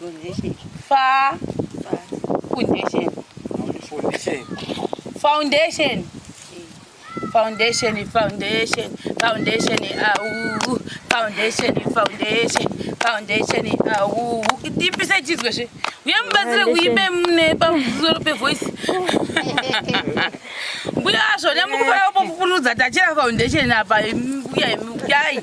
Foundation. Fa. Foundation. Foundation. Foundation. Foundation, foundation, foundation, au, foundation, foundation, foundation, au. Tipisa chizwe zve. Uye mubatsire kuimbe mune pamusoro pevoice. Mbuya zvo, nyamukufara kupupurudza tachira foundation apa, mbuya, mbuya.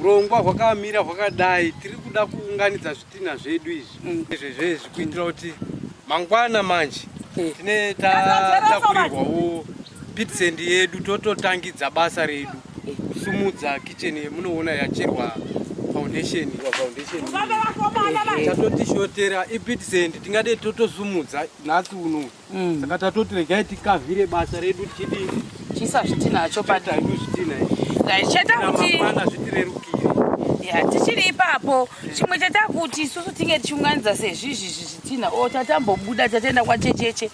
urongwa hwakamira hwakadai tiri kuda kuunganidza zvitinha zvedu izvi mm. ezvezvezvi kuitira kuti mangwana manje eh. tine tatakurirwawo pitsendi yedu tototangidza basa redu eh. kusumudza kitchen yemunoona yacherwa foundation foundation eh. tatotishotera ipitsendi tingade totosumudza nhasi uno Mm. Saka tatoti regai tikavhire basa redu tichidii? Tichiisa zvitinha acho pata. Tichita zvitinha izvi. Zvaishata kuti. Ramangwana zvitirerukire. Yeah, tichiri ipapo chimwe chatakuti isusu tinge tichiunganidza sezvizvi zvitinha o tatambobuda tataenda kwachecheche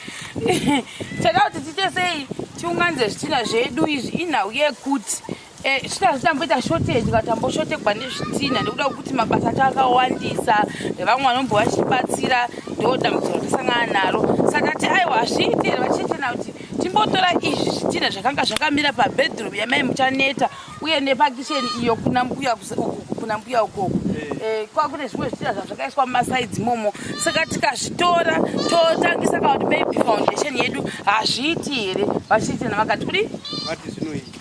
chatakuti tiite sei tiunganidze zvitinha zvedu izvi inhau yekuti Eh, zvitazi tamboita shortage kana tamboshotegwa nezvitinha nekuda kwekuti mabasa acho akawandisa vamwe vanombo vachibatsira ndo dambudziko ratasangana naro saka tati aiwa hazviiti here vachechena kuti timbotora izvi zvitinha zvakanga zvakamira pabedroom yamai muchaneta uye nepakisheni iyo kuna mbuya kuna mbuya ukoko eh. eh, kwa kune zvimwe zvitinha zvazvakaiswa mumasaidzi momo saka tikazvitora totangisa kana kuti maybe foundation yedu hazviiti here vachiitena vakati kudi vati zvinoita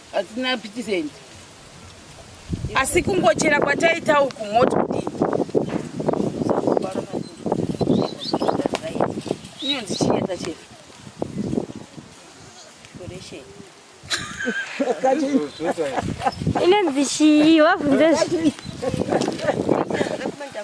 hatina pitisendi asi kungochera kwataita uku moti kudii inonzi chinyeta chete inonzi chii wabvunze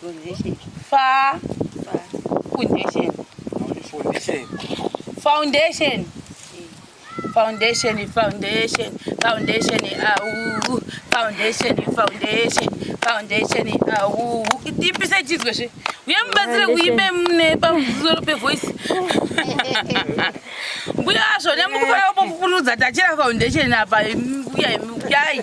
Pronunciation. Fa. Fa. Foundation. Foundation. Foundation. Foundation, foundation, foundation, au, foundation, foundation, foundation, au. Tipisa chizwe zve. Uye mubatsire kuimbe mune pamusoro pevoice. Mbuya zvo nemukufara kupupurudza tachira foundation apa mbuya yai.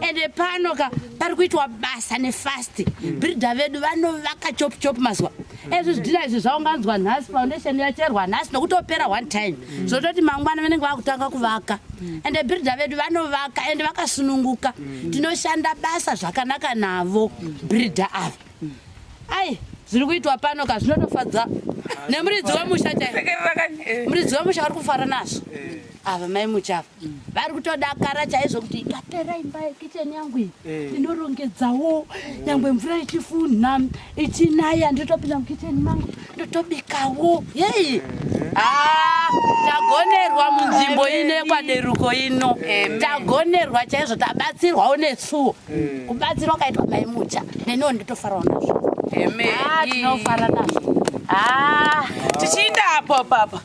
ende pano ka pari kuitwa basa nefasti mm. birida vedu vanovaka chop chop mazuva mm. ezvi zvidhina izvi zvaunganzwa nhasi foundation yacherwa nhasi nokutopera one time mm. zvototi mangwana vanenge vakutanga kuvaka ende birida vedu vanovaka ende vakasununguka tinoshanda basa zvakanaka navo birida ava ai zviri kuitwa pano ka zvinotofadza nemuridzi wemusha chaimuridzi wemusha vari kufara nazvo eh. ava mai muchava mm. vari kutodakara chaizvo kuti ikapera imba yekicheni yangu iyi eh. inorongedzawo mm. nyangwe mvura ichifunha ichinaya ndotopinda mukicheni mangu ndotobikawo yei eh. ah, tagonerwa munzvimbo ine kwaderuko ino tagonerwa chaizvo tabatsirwawo nesuwo eh. kubatsirwa kaitwa mai mucha neniwo ndotofarawo nazvo ah, tinofara nazvo ah. tichiinda apo papa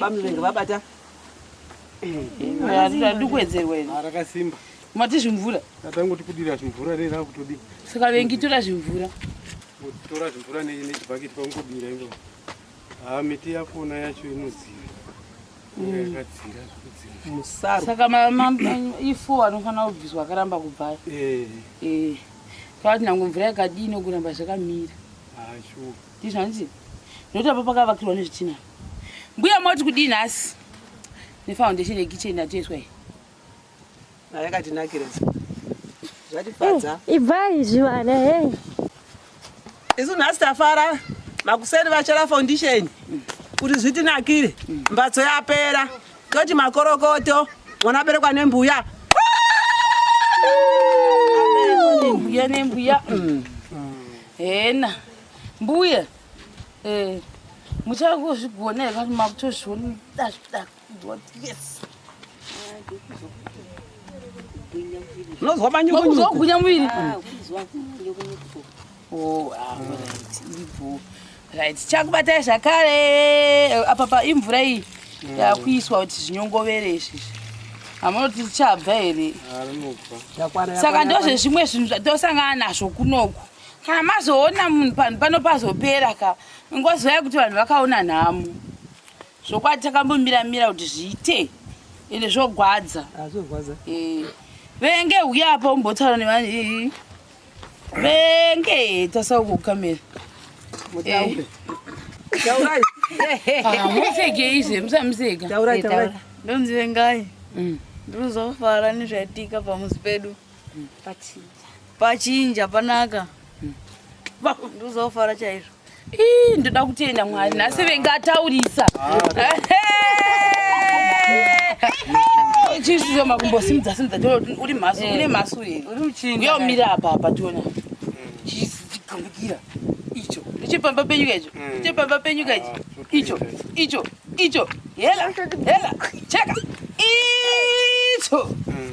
bamlenge vabata ndikuedzerwa ino rakasimba mati zvimvura atangoti kudira zvimvura rei rakutodii saka vengi tora zvimvura tora zvimvura nechibhaketi kwangudira io haa miti yakona yacho inodzira yakadzira musaro saka ifo anofanira kubviswa akaramba kubvaya ee ee kwaati nango mvura yakadii nokuramba zvakamira haa shuwa ndizvo hanzi ndokuti apa pakavakirwa nezvitina mbuya moti kudii nhasi nefoundation yekicheni yatoiswa iyi ayakatinakira zvatifadza eh, ibvai zvivana he eh. isu nhasi tafara makuseni vachera foundation kuti zvitinakire mbatso yapera toti makorokoto mwana aberekwa nembuya mbuya nembuya mm. hena mbuya eh, muchangozvigona here vanhu makutozvionadazvidakuzotiesi unonzwa manyukunyukuzogunya muviri ah, oh, ah, right chakubatai zvakare eh, apa pa imvura iyi mm. yakuiswa kuti zvinyongovere izvizvi hamunoti tichabva here ah, saka ndozvezvimwe zvinhu zvatosangana nazvo kunoku kana mazoona munhu panhu pano pazopera ka ngozivai kuti vanhu vakaona nhamo zvokwadi takambomira mira kuti zviite ende zvogwadza eh. venge uya apa umbotaura nevanhu ii venge tasauko kukamera eh. ah, museke izve musamuseka eh, ndonzi vengai mm. ndinozofara nezvaitika pamuzi pedu pachinja pachinja panaka hmm. ndozofara chaizvo ii ndoda kutenda mwari nhasi vengataurisa chisizo makumbo simudza simudza tiona kuti uri mhasu eh. une mhasu here uri uchinga yo mira apa apa tiona chigambukira icho ndichepamba penyuka icho hmm. ndichepamba penyuka icho ah, icho icho icho hela hela cheka icho hmm.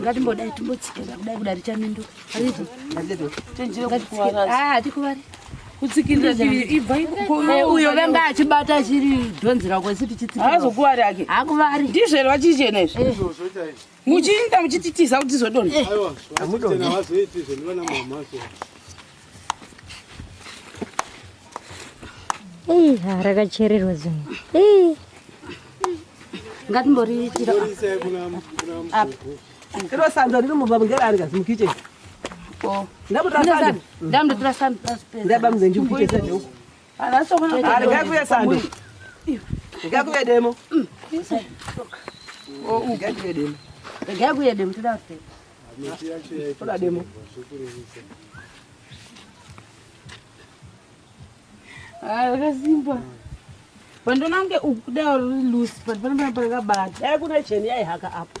ngatimbodai timbotsika kudai kudai richamindo hatikuvari uyo vanga achibata chiri dhonzi rako isi tichitsika azokuvari ake hakuvari ndizvere vachichena izvi muchiinda muchititiza kuti tizodona rakachererwa zvinhu ngatimboritira iro sando riri mubva mungerari kazi mukicheni ndamutotora sando ndabamudzenjikuchesa neuku Ndikakuve sando. Ndikakuve demo. Oh, ndikakuve demo. Ndikakuve demo toda kupfeka. Toda demo. Ah, wakasimba. Pandonange ukuda uri loose, panopana pakabata. Dai kuna cheni yaihaka apo.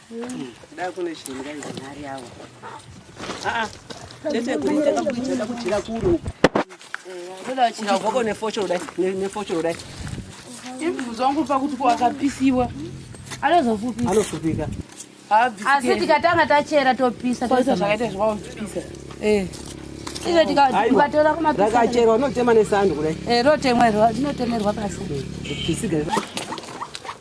Imvuzo wangu pakuti kwakapisiwa anozofupika anofupika asi tikatanga tachera topisa toisa zvakaita zvawapisa eh. ive tikatora kumapakacherwa unotema nesando kudai eh, rotemwa iro rinotemerwa pasi eh,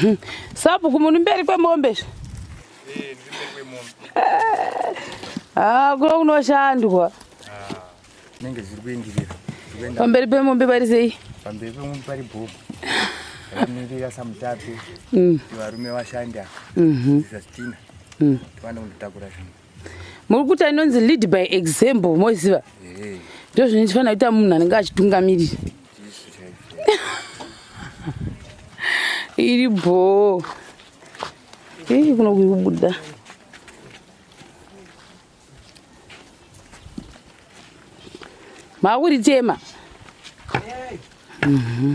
Hmm. Sabhuku muri mberi kwemombe izvi? Eh, ndiri mberi kwemombe. Eh. Ah, kuno kunoshandwa. Ah, nenge zviri kuenderera. Pamberi pemombe pari sei? Pamberi pemombe pari bhobho. Ramirira samutapi. Hmm. Varume vashanda. Mhm. Zvizatina. Mm. Twana kunditakura zvinhu. muri kuita inonzi lead by example moziva eh. ndo zvine ndifanira kuita munhu anenge achitungamirira iri bhoo ii kuno kuri kubuda makuritema mm -hmm.